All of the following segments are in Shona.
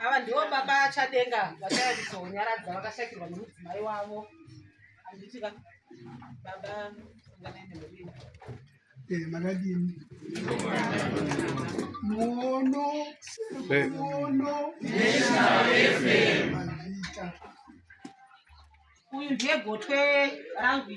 ava ndivo baba achadenga vachayandizonyaradza vakashakirwa nemudzimai wavo handiti ka baba anganainemurini eh, makadini muono eh. muono uyu ndiye gotwe rangu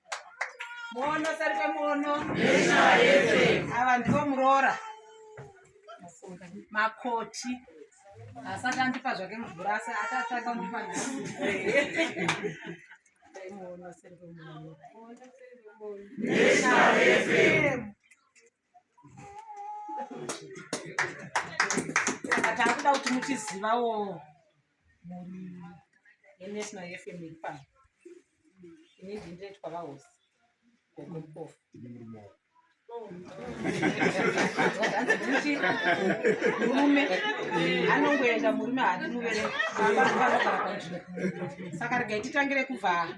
Muono sari pamuono. Ava ndivo muroora. Makoti. Asati andipa zvake mvura asi atatsvaka kundipa muono sari pamuono. National FM. saka takuda kuti muchizivawo mhuri yenational fm iri pano ini ndindiretwa vahosi gogopofu murume anongoenda murume hatimuverei saka regai titangire kuvhaa